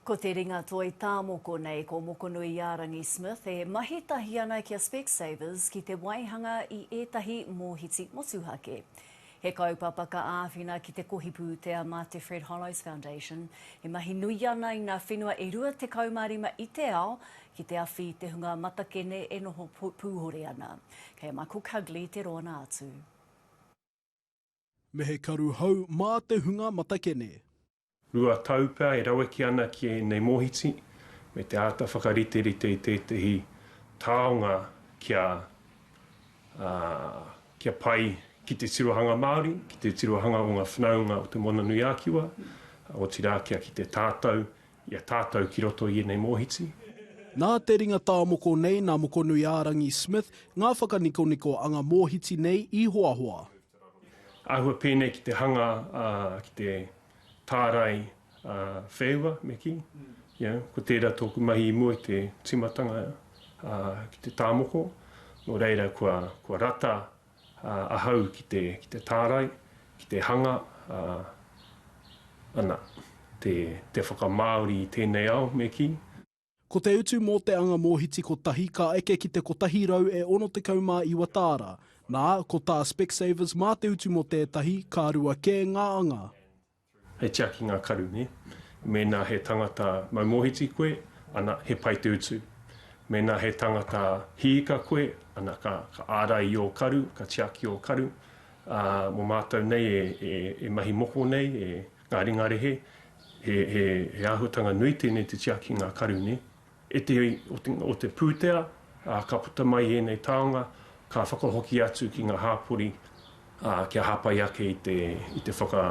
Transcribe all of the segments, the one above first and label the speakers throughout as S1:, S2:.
S1: Ko te ringa toi tāmoko nei ko Mokonuiārangi Smith e mahi tahi ana ki a Specsavers ki te waihanga i ētahi mōhiti motuhake. He kaupapa ka āwhina ki te kohi pūtea mā te Fred Hollows Foundation, e mahi nui ana i ngā whenua e 25 i te ao ki te awhi i te hunga matakene e noho pūhore ana. Kei a Michael Cugley te rōna atu.
S2: Me he karu hou mā te hunga matakene. Rua
S3: tau pea e raweke ana ki ēnei mōhiti, me te āta whakariterite i tētehi taonga kia, ā, kia pai ki te tirohanga Māori, ki te tirohanga o ngā whanaunga o Te Moananui-a-Kiwa, otirā kia kite tātou I a tātou ki roto i ēnei mōhiti. Nā te
S2: ringa tāmoko nei nā Mokonui-ā-rangi Smith ngā whakanikoniko a ngā mōhiti nei i hoahoa. Āhua
S3: pēnei ki te hanga ā, ki te tārai ā, wheua me kī. Ia, ko tērā tōku mahi i mua i te tīmatanga ā, ki te tāmoko. Nō reira kua, kua rata ahau ki te, ki te tārai, ki te hanga, ā, ana, te, te whakamāori i tēnei ao, me kī. Ko te utu
S2: mō te anga mōhiti kotahi ka eke ki te 169 tāra, nā, ko tā Specsavers mā te utu mō tētahi, ka rua kē ngā anga. He
S3: tiaki ngā karu, nē? Mēnā he tangata mau mōhiti koe, ana, he pai te utu. Mēnā he tangata hiika koe, ana, ka, ka ārai i ō karu, ka tiaki ō karu. Ā, mō mātou nei e, e, e mahi moko nei, e ngā ringarehe, he, he, he āhuatanga nui tēnei te tiaki ngā karu, nē? E te iwi o te pūtea, ā, ka puta mai i ēnei taonga, ka whakahoki atu ki ngā hāpori, ā, kia hāpai ake i te, i te whaka,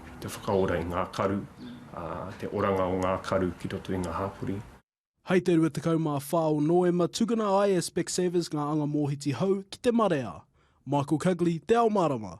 S3: i te whakaora i ngā karu, ā, te oranga o ngā karu ki roto i ngā hāpori. Hei te
S2: 24 o Noema, tukuna ai e Specsavers ngā anga mōhiti hou ki te marea. Michael Cugley, Te Ao Mārama.